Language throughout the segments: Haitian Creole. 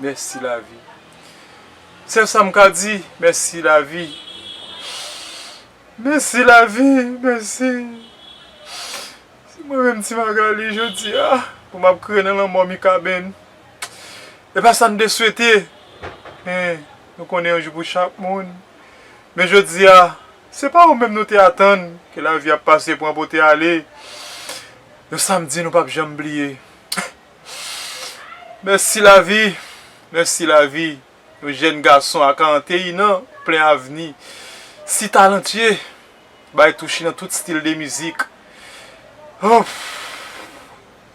Mèsi lavi. Sèl sam ka di mèsi lavi. Mèsi lavi mèsi. Se mwen menm ti Magalie jodia pou map kriye nan lanmò Mikaben. E pa sa nou te swete men nou konnen yon jou pou chak moun. Men jodia se pa ou menm nou te atann ke lavi ap pase pran pote ale. Yon samdi nou pap janm bliye. Mèsi lavi, mèsi lavi, yon jèn gason a 41 an, plen avni, si talantye, bay touche nan tout stil de mizik. Humph!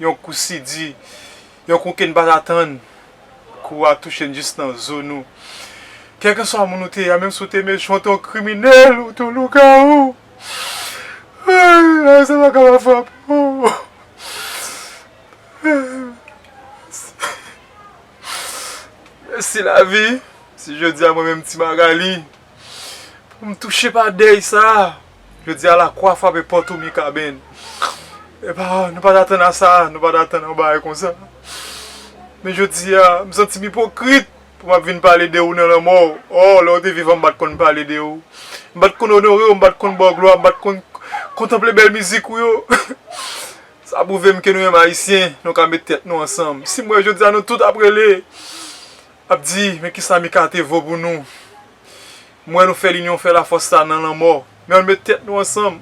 Yon kou si di, yon kou ke n pa t atann. Kou a touche n jis nan zo nou. Kèlkeswa moun ou te ye a, menm si w te mechan, w te yon kriminèl, w te yon lougawou, humph! Lavi sa pa ka pa frape w. Mèsi lavi, si jodi a mwen menm ti Magali pou m touche pa dèy sa, jodi a lakwa frape pòt ou Mikaben. E pa, nou pa t atann a sa, nou pa t atann a yon bagay konsa. Men jodi a, m santi m ipokrit pou m ap vin pale de ou nan lanmò ou. Ò, lè ou te vivan m pa t konn pale de ou. M pa t konn onore ou, m pa t konn ba w glwa, m pa t konn kontanple bèl mizik ou yo. Sa prouve m ke nou menm Ayisyen, nou ka met tèt nou ansanm. Si m wè jodi a nou tout ap rele, ap di, men kisa Mikate vo pou nou. M wè nou fè linyon fè lafòs sa nan lanmò. Men ann met tèt nou ansanm.